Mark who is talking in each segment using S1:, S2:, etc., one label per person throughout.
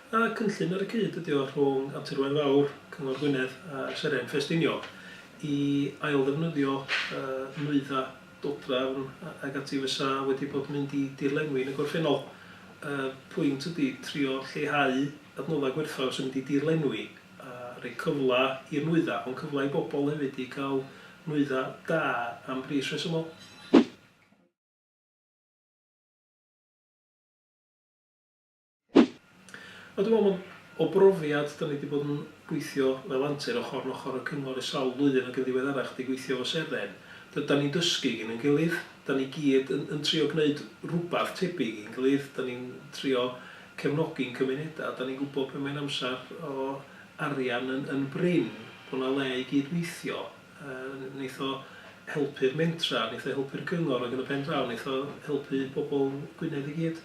S1: A cynllun ar y cyd ydy o rhwng Abturwen Fawr, Cyngor Gwynedd a Seren Ffestiniog i ailddefnyddio nwyddau dodrefn ac ati fysa wedi bod yn mynd i dirlenwi yn y gorffennol. Y pwynt ydy trio lleihau adnoddau gwerthfawr sy'n mynd i dirlenwi. a rhoi cyfle i'r nwyddau, ond cyfle i bobl hefyd i gael nwyddau da am bris rhesymol. A dwi'n meddwl bod, o brofiad, dan ni wedi bod yn gweithio fel antur ochr yn ochr â'r cyngor ers sawl blwyddyn ac yn ddiweddarach wedi gweithio efo Seren, dan ni'n dysgu gin ein gilydd, dan ni gyd yn yn trio gwneud rhywbeth tebyg i'n gilydd, dan ni'n trio cefnogi'n cymunedau. Dan ni'n gwybod pan mae'n amser o arian yn yn brin, bod 'na le i gyd-weithio. Yy neith o helpu'r mentra, neith o helpu'r cyngor ac yn y pen draw neith o helpu pobl Gwynedd i gyd.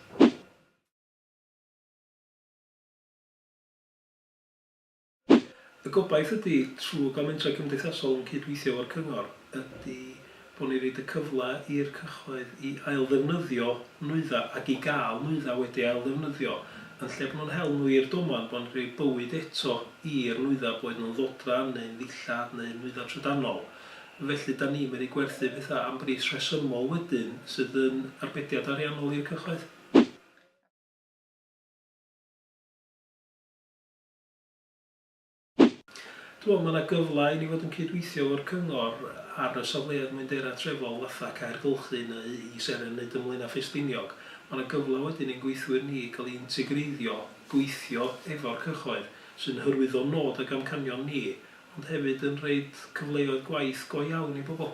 S1: Y gobaith ydy, trwy gael mentrau cymdeithasol yn cyd-weithio efo'r cyngor, ydy bod ni'n rhoid y cyfle i'r cyhoedd i ailddefnyddio nwyddau ac i gael nwyddau wedi ailddefnyddio, yn lle bod nhw'n hel nhw i'r domen, bod ni'n rhoi bywyd eto i'r nwyddau, boed nhw'n ddodran neu'n ddillad neu'n nwyddau trydanol. Felly, dan ni'n medru gwerthu pethau am bris rhesymol wedyn sydd yn arbediad ariannol i'r cyhoedd. Dwi'n meddwl mae yna gyfle i ni fod yn cydweithio efo'r cyngor ar y safleoedd mwyndera trefol fatha Cae'r Gylchyn neu i Seren neu Dunblane a Ffestiniog. Mae yna gyfle wedyn i'n gweithwyr ni gael eu integreiddio, gweithio efo'r cyhoedd, sy'n hyrwyddo nod ag amcanion ni, ond hefyd yn rhoid cyfleoedd gwaith go iawn i bobl.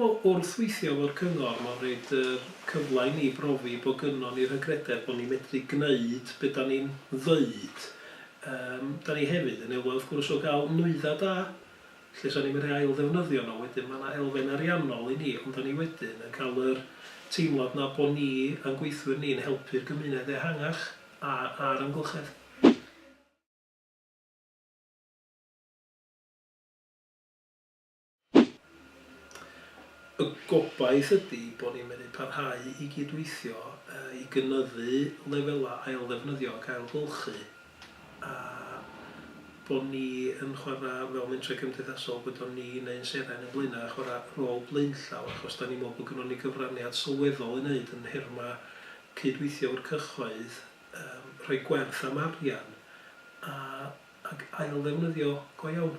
S1: Dwi'n meddwl wrth weithio efo'r cyngor mae'n rhoid yr cyfle i ni brofi bod gynnon ni'r hygrededd bod ni'n medru gneud be dan ni'n ddeud. Yym dan ni hefyd yn elwa wrth gwrs o gael nwyddau da lle sa ni'n medru ailddefnyddio nhw wedyn mae yna elfen ariannol i ni ond dan ni wedyn yn cael yr teimlad yna bod ni a'n gweithwyr ni'n helpu'r gymuned ehangach a a'r amgylchedd. Y gobaith ydy bod ni'n medru parhau i gyd-weithio i gynyddu lefelau ailddefnyddio ac ailgylchu a bod ni yn chwarae fel mentrau cymdeithasol, gwyddom ni neu'n seren yn Blaenau, chwarae rôl blaenllaw achos dan ni'n meddwl bod gynnon ni gyfraniad sylweddol i wneud yn nhermau cyd-weithio efo'r cyhoedd, rhoi gwerth am arian ac ailddefnyddio go iawn.